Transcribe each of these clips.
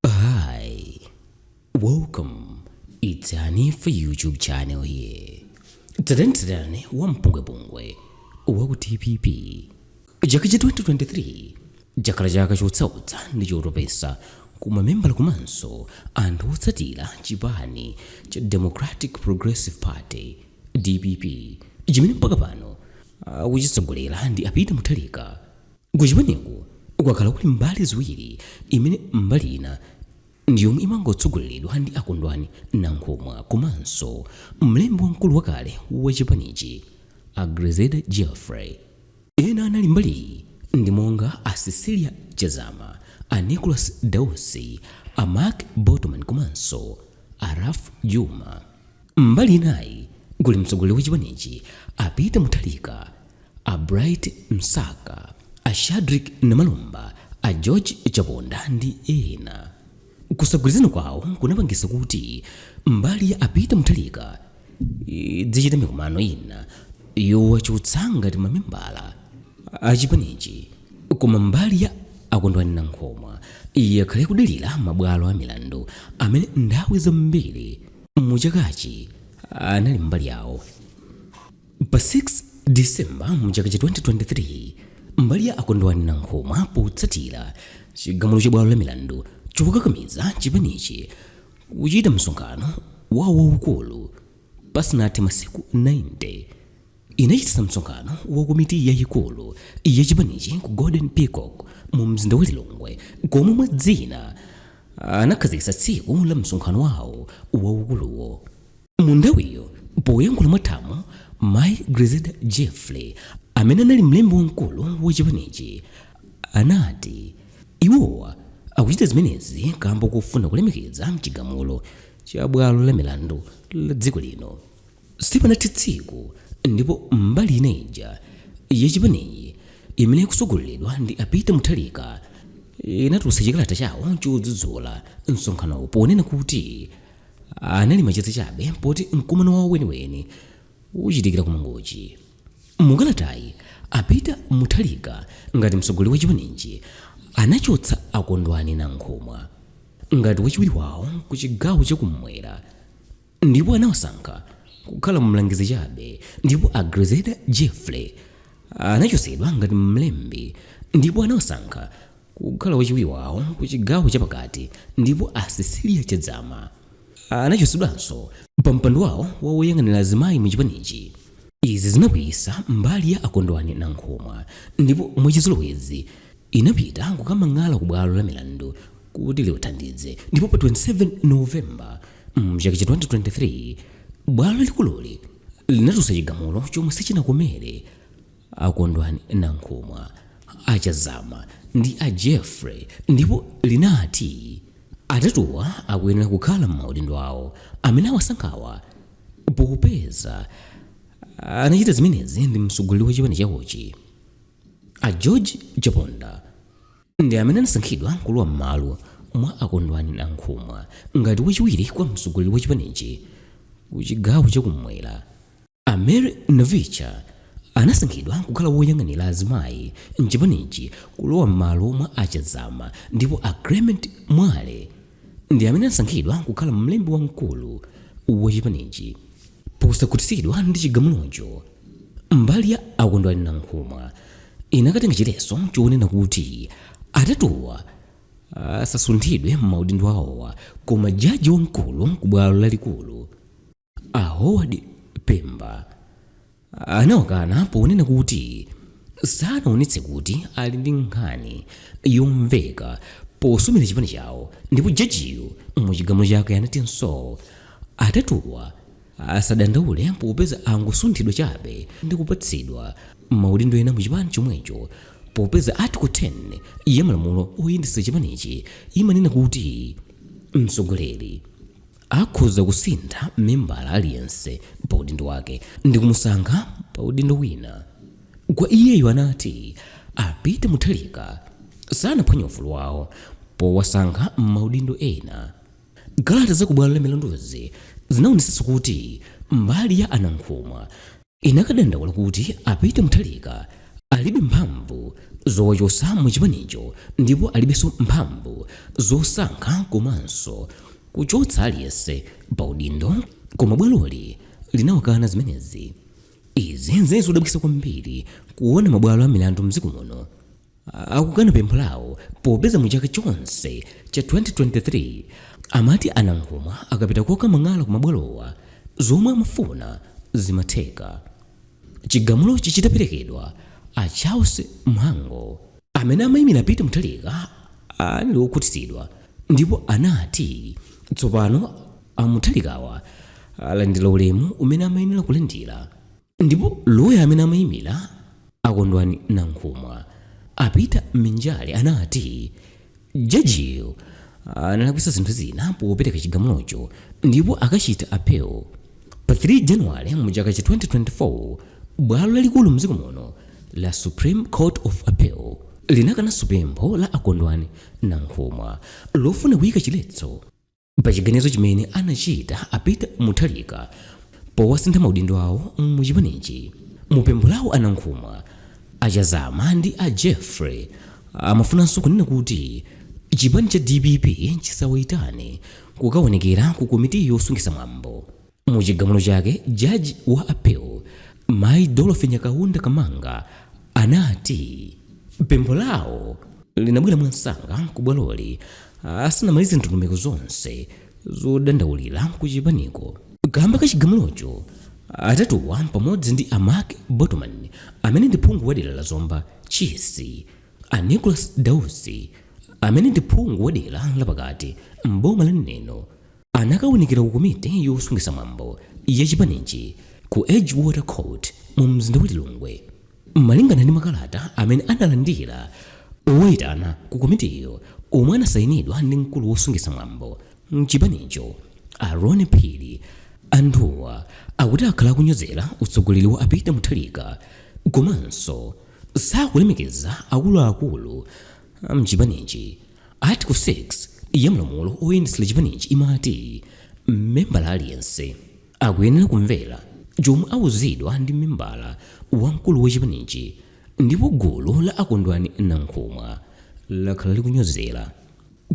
Hi, welcome. It's Honey for YouTube channel here. Tsatanetsatane wa mpungwepungwe wa ku DPP. Chaka cha 2023 chakhala chaka chosautsa ndi chotopetsa kwa mamembala komanso anthu otsatira chipani cha Democratic Progressive Party DPP chimene mpaka pano akuchitsogolera ndi a Peter Mutharika kuchipaniku kwakhala kuli mbali ziwiri imene mbali ina ndi yomwe imangotsogoleredwa ndi a kondwani nankhumwa komanso mlembi wamkulu wakale wa chipanichi a grezelder jeffrey ena anali mbaliyi ndi monga a cecilia chazama a nicholas dausi a mark botomani komanso a ralph jooma Mbali inayi kuli mtsogoleri wa chipanichi a Peter Mutharika, a Bright Msaka, a Shadrick Namalomba, a George Chaponda ndi ena. Kusagwirizana kwawo kunapangitsa kuti mbali ya a Peter Mutharika idzichita mikumano ina yowachotsa ngati mamembala a chipanichi, koma mbali ya a Kondwani Nankhumwa yakhala ikudalira mabwalo a milandu amene nthawi zambiri mu chakachi anali mbali yawo pa 6 disemba mu chaka cha 2023 mbali ya a kondwani nankhumwa potsatira chigamulo cha bwalo la milandu chokakamiza chipanichi kuchita msonkhano wawo waukulu pasanathe masiku 90 inachititsa msonkhano wa komiti yayikulu ya chipanichi ku golden peacock mu mzinda wa lilongwe komwe mwa zina anakhazikitsa tsiku la msonkhano wawo waukuluwo mu nthawiyo poyankhula mwathamo mayi grezelder jeffrey amene anali mlembi wamkulu wa chipanichi anati iwowa akuchita zimenezi kamba kofuna kulemekeza chigamulo cha bwalo la milandu la dziko lino Sipanathe tsiku ndipo mbali ina ija ya chipanichi imene ikutsogoleredwa ndi a Peter Mutharika inatulutsa chikalata chawo chodzudzula msonkhanowu ponena kuti anali macheza chabe poti mkumano wawo weniweni uchitikira ku Mangochi. Mukalatayi, a Peter Mutharika ngati mtsogoleri wa chipanichi anachotsa a Kondwani Nankhumwa ngati wachiwiri wawo ku chigawo cha kummwera. Ndipo anawasankha kukhala mlangizi chabe, ndipo a Grezelder Jeffrey anachotsedwa ngati mlembi, ndipo anawasankha kukhala wachiwiri wawo ku chigawo chapakati, ndipo a Cecilia Chazama anachotsedwanso pa mpando wawo wa woyang'anira azimayi mu chipanichi. Izi zinakwiyitsa mbali ya a Kondwani Nankhumwa, ndipo mwachizolowezi inapita kukamang'ala ku bwalo la milandu kuti liwathandize, ndipo pa 27 November, Mchaka cha 2023 bwalo likululi linatulutsa chigamulo chomwe sichinakomere a Kondwani Nankhumwa, a Chazama ndi a Jeffrey ndipo linati atatuwa akuyenera kukhala m'maudindo awo amene awasankhawa popeza anachita zimenezi ndi mtsogoleri wa chipani chawochi a George Chaponda. ndi amene anasankhidwa kulowa m'malo mwa a Kondwani Nankhumwa ngati wachiwiri kwa mtsogoleri wa chipanichi ku chigawo chakummwera a mary navicha anasankhidwa kukhala woyang'anira azimayi mchipanichi kulowa m'malo mwa a Chazama ndipo a clement mwale ndi amene anasankhidwa kukhala mlembi wamkulu wa chipanichi posakhutitsidwa ndi chigamulocho mbali ya a Kondwani Nankhumwa inakatenga chiletso chonena kuti atatuwa asasunthidwe m'maudindo awowa koma jaji wamkulu ku bwalo lalikulu a howard pemba anawakana ponena kuti sanaonetse kuti ali ndi nkhani yomveka posumira chipani chawo ndipo jajiyo mu chigamulo chake anatinso Atatuwa asadandaule popeza angosunthidwa chabe ndi kupatsidwa maudindo ena mu chipani chomwecho popeza Article 10 ya malamulo oyendetsa chipanichi imanena kuti mtsogoleri akhoza kusintha membala aliyense pa udindo wake ndi kumusankha pa udindo wina kwa iyeyo anati a Peter Mutharika sanaphwanye ufulu wawo powasankha maudindo ena. Kalata za ku bwalo la milanduzi zinaonetsa kuti mbali ya a Nankhumwa inakadandaula kuti a Peter Mutharika alibe mphamvu zowachotsa mu chipanicho ndipo alibenso mphamvu zosankha komanso kuchotsa aliyense pa udindo koma bwaloli linawakana zimenezi. Izi zinali zodabwitsa kwambiri kuona mabwalo a milandu m'dziko muno akukana pempho lawo popeza mu chaka chonse cha 2023 amati a nankhumwa akapita kokamang'ala ku mabwalowa zomwe amafuna zimatheka chigamulochi chitaperekedwa a charles mhango amene amayimira a peter mutharika anali wokhutitsidwa ndipo anati tsopano a mutharikawa alandira ulemu umene amayenera kulandira Ndipo loya amene amaimira a Kondwani Nankhumwa, a Peter Minjale anati jajiyo analakwitsa zinthu zina popereka chigamulocho ndipo akachita appeal pa 3 January mu chaka cha 2024. Bwalo lalikulu mdziko muno la Supreme Court of Appeal linakananso pempho la a Kondwani Nankhumwa lofuna kuika chiletso. pa chiganizo chimene anachita a peter mutharika powasintha maudindo awo mu chipanichi mu pempho lawo a nankhumwa a chazama ndi a jeffrey amafunanso kunena kuti chipani cha dpp chisawayitane kukaonekera ku komiti yosungitsa mwambo Mu chigamulo chake, jaji wa appeal Mayi Dorothy Nyakaunda Kamanga anati pempho lawo linabwera mwansanga ku bwaloli asanamalize ndondomeko zonse zodandaulira ku chipaniko kamba ka chigamulocho. Atatuwa pamodzi ndi a Mark Botomani amene ndi phungu wa dera la Zomba Chisi, a Nicholas Dausi amene ndi phungu wa dera la pakati m'boma la Neno, anakaonekera ku komiti yosungitsa mwambo ya chipanichi ku edgewater court mu mzinda wa lilongwe malingana ndi makalata amene analandira owayitana ku komitiyo omwe anasayinidwa ndi mkulu wosungitsa mwambo mchipanicho a aaron phiri anthuwa akuti akhala akunyozera utsogoleri wa a peter mutharika komanso sakulemekeza akuluakulu mchipanichi Article 6 ya malamulo oyendetsera chipanichi imati membala aliyense akuyenera kumvera chomwe auzidwa ndi membala wamkulu wa chipanichi ndipo gulu la a kondwani nankhumwa lakhala likunyozera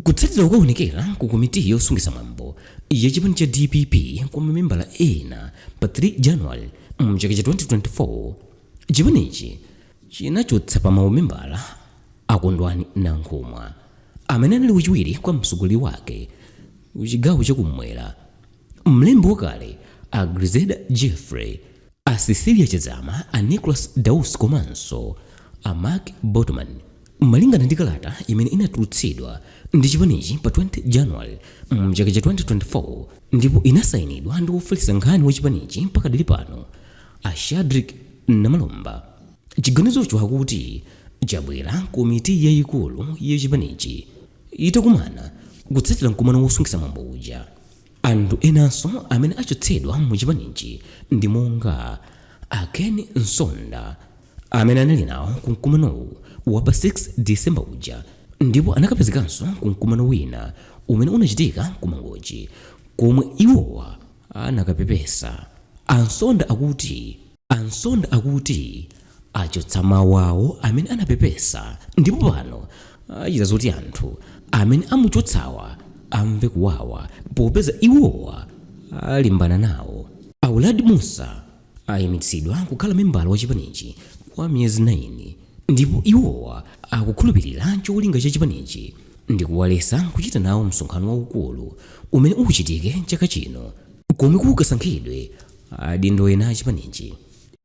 kutsatira kukaonekera ku komiti yosungitsa mwambo ya chipani cha dpp kwa mamembala ena pa 3 january mchaka cha 2024 chipanichi chinachotsa pa maumembala a Kondwani Nankhumwa, amene anali wachiwiri kwa mtsogoleri wake ku chigawo cha kummwera, mlembi wakale a Grezelder Jeffrey, a Cecilia Chazama, a Nicholas Dausi komanso a Mark Botomani. Malingana ndi kalata imene inatulutsidwa ndi chipanichi pa 20 January mchaka cha 2024 ndipo inasayinidwa ndi wofalitsa nkhani wa chipanichi pakadali pano, A Shadric Namalomba, chiganizocho akuti chabwera komiti yayikulu ya chipanichi itakumana kutsatira mkumano wosungitsa mwambo uja. Anthu enanso amene achotsedwa mu chipanichi ndi monga a Ken Msonda amene anali nawo ku mkumanowu wa pa 6 December uja ndipo anakapezekanso ku mkumano wina umene unachitika ku Mangochi komwe iwowa anakapepesa, a Msonda akuti a Msonda akuti achotsa mawu awo amene anapepesa ndipo pano achita zoti anthu amene amuchotsawa amve kuwawa popeza iwowa alimbana nawo. A Uladi Mussa ayimitsidwa kukhala membala wa chipanichi kwa miyezi 9 ndipo iwowa akukhulupilira cholinga cha chipanichi ndikuwaletsa kuchita nawo msonkhano waukulu umene uchitike chaka chino komwe kukasankhidwe adindo ena a chipanichi.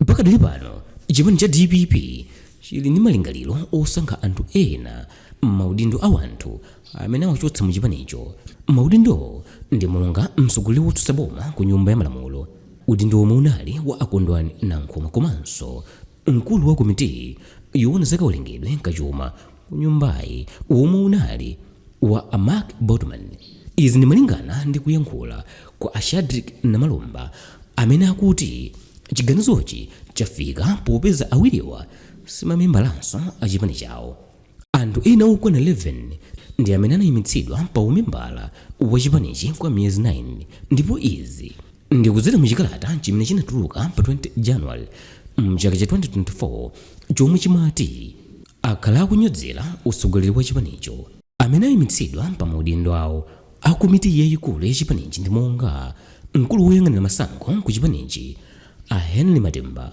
Pakadali pano chipani cha dpp chili ndi malingaliro osankha anthu ena m'maudindo a wanthu amene awachotsa mu chipanicho. Maudindowo ndi monga mtsogoleri wotsutsa boma ku nyumba ya malamulo, Udindo womwe unali wa a Kondwani Nankhumwa komanso mkulu wa komiti yowona za kawerengedwe ka chuma ku nyumbayi womwe unali wa a Mark Botomani. Izi ndi malingana ndi kuyankhula kwa a Shadric Namalomba amene akuti chiganizochi chafika popeza awiriwa simamembalanso a chipani chawo. Anthu ena okwana 11 ndi amene anayimitsidwa pa umembala wa chipanichi kwa miyezi 9 ndipo izi ndi kudzera mu chikalata chimene chinatuluka pa 20 January mchaka cha 2024 chomwe chimati akhala akunyozera utsogoleri wa chipanicho. Amene ayimitsidwa pa maudindo awo a komiti yayikulu ya chipanichi ndi monga mkulu woyang'anira masankho ku chipanichi a Henry Matemba,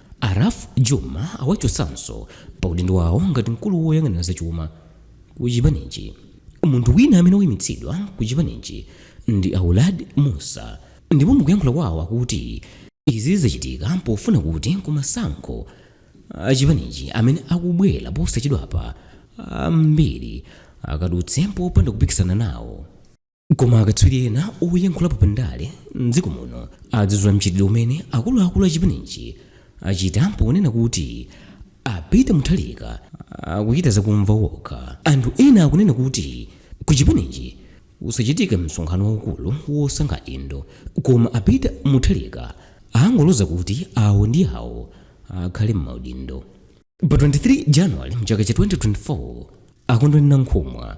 A Ralph Jooma awachotsanso pa udindo wawo ngati mkulu woyang'anira zachuma ku chipanichi. Munthu wina amene waimitsidwa ku chipanichi ndi a Uladi Mussa ndipo mukuyankhula kwawo akuti izi zachitika pofuna kuti kumasankho a chipanichi amene akubwera posachedwapa, ambiri akadutse popanda kupikisana nawo. koma akatswiri ena oyankhulapo pa ndale mdziko muno adzudzula mchitidwe umene akuluakulu a chipanichi achita ponena kuti a Peter Mutharika akuchita zakumva wokha anthu ena akunena kuti ku chipanichi usachitike msonkhano waukulu wosankha adindo koma a Peter Mutharika angoloza kuti awo ndi awo akhale m'maudindo Pa 23 January mchaka cha 2024 a Kondwani Nankhumwa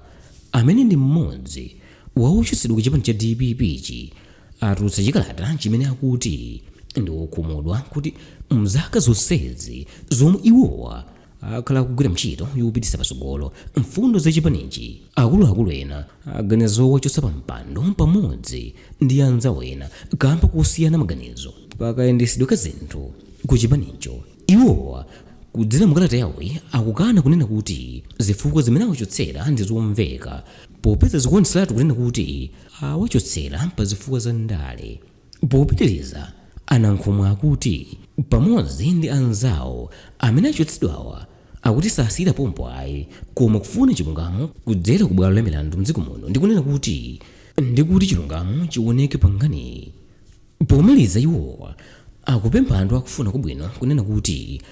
amene ndi mmodzi wa ochotsedwa ku chipani cha DPP-chi atulutsa chikalata chimene akuti ndi wokhumudwa kuti mzaka zonsezi zomwe iwowa akhala akugwira ntchito yopititsa patsogolo mfundo za chipanichi akuluakulu ena aganiza zowachotsa pa mpando pamodzi ndi anzawo ena kamba kosiyana maganizo pakayendetsedwe ka zinthu ku chipanicho Iwowa, kudzera mu kalata yawoyi, akukana kunena kuti zifukwa zimene awachotsera ndi zomveka popeza zikuonetseratu kunena kuti awachotsera pa zifukwa za ndale. Popitiriza, a Nankhumwa akuti pamodzi ndi anzawo amene achotsedwawa akuti sasiyira pompo ayi koma kufuna chilungamo kudzera ku bwalo la milandu mdziko muno ndi kunena kuti ndi kuti chilungamo chioneke pa nkhaniyi. Pomaliza iwo akupempha anthu akufuna kwabwino kunena kuti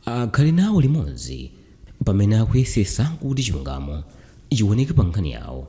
akhale nawo limodzi pamene akuyesetsa kuti chilungamo chiwoneke pa nkhani yawo.